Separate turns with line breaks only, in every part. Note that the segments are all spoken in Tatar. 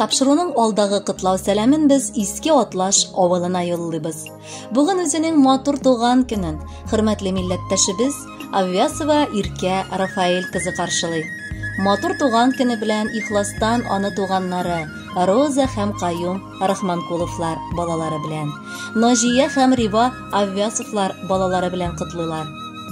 Тапшыруның алдагы котлау сәламен без Иске Атлаш авылына юллыйбыз. Бүген үзенең матур туган көнен хөрмәтле милләттәшебез Аввясова Иркә Рафаэль кызы каршылый. Матур туган көне белән ихластан аны туганнары Роза һәм Каюм Рахманкуловлар балалары белән, Ножия һәм Рива Аввясовлар балалары белән котлыйлар.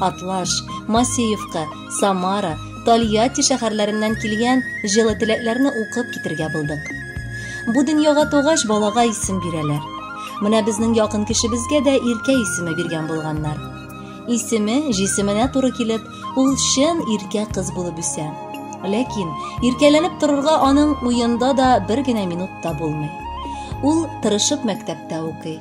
Атлаш, Масеевка, Самара, Тольятти шәһәрләреннән килгән җылы теләкләрне укып китергә булдык. Бу дөньяга тугач балага исем бирәләр. Менә безнең якын кешебезгә дә Иркә исеме биргән булганнар. Исеме, җисеменә туры килеп, ул чын Иркә кыз булып үсә. Ләкин иркәләнеп торырга аның уенда да бер генә минут та булмый. Ул тырышып мәктәптә укый.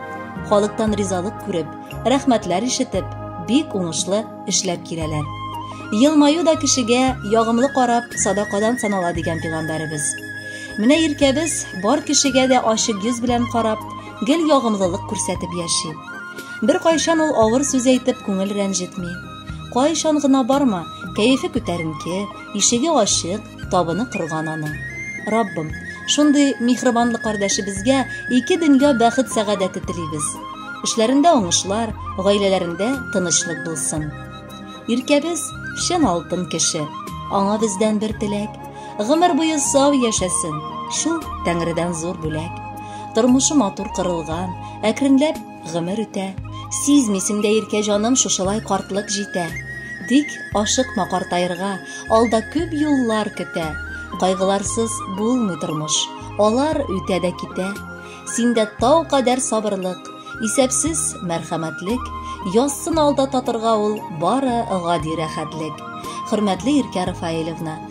Халыктан ризалык күреп, рәхмәтләр ишетеп, бик уңышлы эшләп киләләр. Елмаю да кешегә ягымлы карап садакадан санала дигән пигамбәребез. Менә иркәбез бар кешегә дә ачык йөз белән карап, гел ягымлылык күрсәтеп яши. Бер кайчан ул авыр сүз әйтеп күңел рәнҗетми. Кайчан гына барма, кәефе күтәренке, ишеге ачык, Табыны корган аның. Раббым, шундый михрибанлы кардәшебезгә ике дөнья бәхет сәгадәте телибез. Эшләрендә уңышлар, гаиләләрендә тынычлык булсын. Иркәбез чын алтын кеше. Аңа бездән бер теләк. Гомер буе сау яшәсен. Шул Тәңредән зур бүләк. Тормышы матур кырылган, әкренләп Гомер үтә, сизмисең дә иркә җаным шушылай картлык җитә. Тик ашыкма картаерга, алда күп юллар көтә. Кайгыларсыз булмый тормыш, алар үтә дә китә. Синдә тау кадәр сабырлык, исәпсез мәрхәмәтлек, язсын алда татырга ул бары гади рәхәтлек. Хөрмәтле Иркә Рафаилевна,